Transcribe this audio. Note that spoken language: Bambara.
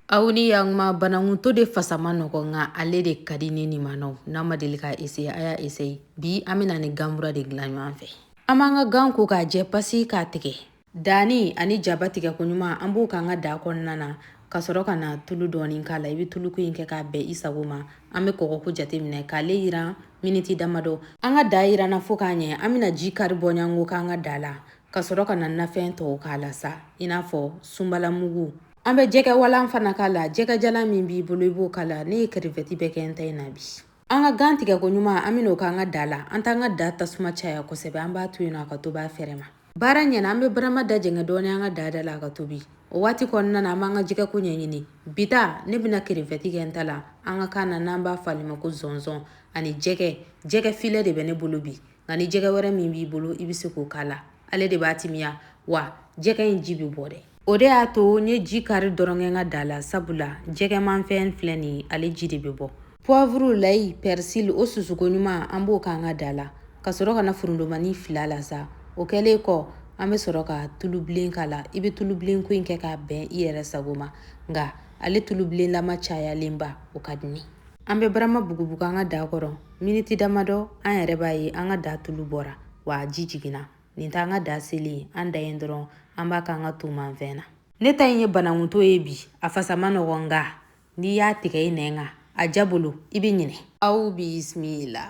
Aw ni y'an kuma banankuto de fasa man nɔgɔ nka ale de ka di ni nin ma nɔgɔ n'a ma deli ka eseye a y'a eseye bi an bɛna ni gan kura de dilan ɲɔgɔn fɛ an b'an ka gan ko k'a jɛ pasi k'a tigɛ danni ani jaba tigɛ ko ɲuman an b'o k'an ka da kɔnɔna na ka sɔrɔ ka na tulu dɔɔni k'a la i bɛ tuluko in kɛ k'a bɛn i sago ma an bɛ kɔgɔko jateminɛ k'ale yiran miniti damadɔ an ka da yiranna fo k'a ɲɛ an bɛna ji kari bɔɲɔgɔnko k'an ka da la ka sɔrɔ ka na nafɛn tɔw k'a la sa i n'a fɔ sunbalamugu An bɛ jɛgɛwalan fana k'a la jɛgɛjalan min b'i bolo i b'o k'a la ne ye kerevɛti bɛɛ kɛ n ta in na bi an ka gan tigɛ ko ɲuman an bɛn'o k'an ka da la an t'an ka da tasuma caya kosɛbɛ an b'a to yen a ka tobi a fɛrɛ ma baara ɲɛna an bɛ barama da jɛngɛ dɔɔni an ka da da la a ka tobi o waati kɔnɔna na an b'an ka jɛgɛko ɲɛɲini bi ta ne bɛna kerevɛti kɛ n ta la an ka kan na n'an b'a fɔ ale ma ko zɔnzɔn ani jɛgɛ jɛgɛ filɛ de bɛ ne bolo bi nka ni jɛgɛ wɛrɛ min b'i bolo i bɛ se k'o k'a la ale de b'a timiya wa jɛgɛ in ji bɛ bɔ dɛ o de y'a to n ye ji kari dɔrɔn kɛ n ka da la sabula jɛgɛmanfɛn filɛ nin ale ji de bɛ bɔ pwavuru layi pɛrisili o susu ko ɲuman an b'o k'an ka da la ka sɔrɔ ka na forontobani fila la sa o kɛlen kɔ an bɛ sɔrɔ ka tulubilen k'a la i bɛ tulubilen ko in kɛ k'a bɛn i yɛrɛ sago ma nka ale tulubilenlama cayalenba o ka di an bɛ barama bugubugu an ka da kɔrɔ miniti damadɔ an yɛrɛ b'a ye an ka da tulu bɔra wa ji jiginna nin t'an ka da seli an da yen dɔrɔn an b'a k'an ka tomanfɛn na ne ta in ye banankuto ye bi a fasa man nɔgɔn nka n'i y'a tigɛ i nɛn kan a diya bolo i bɛ ɲinɛ aw bisimila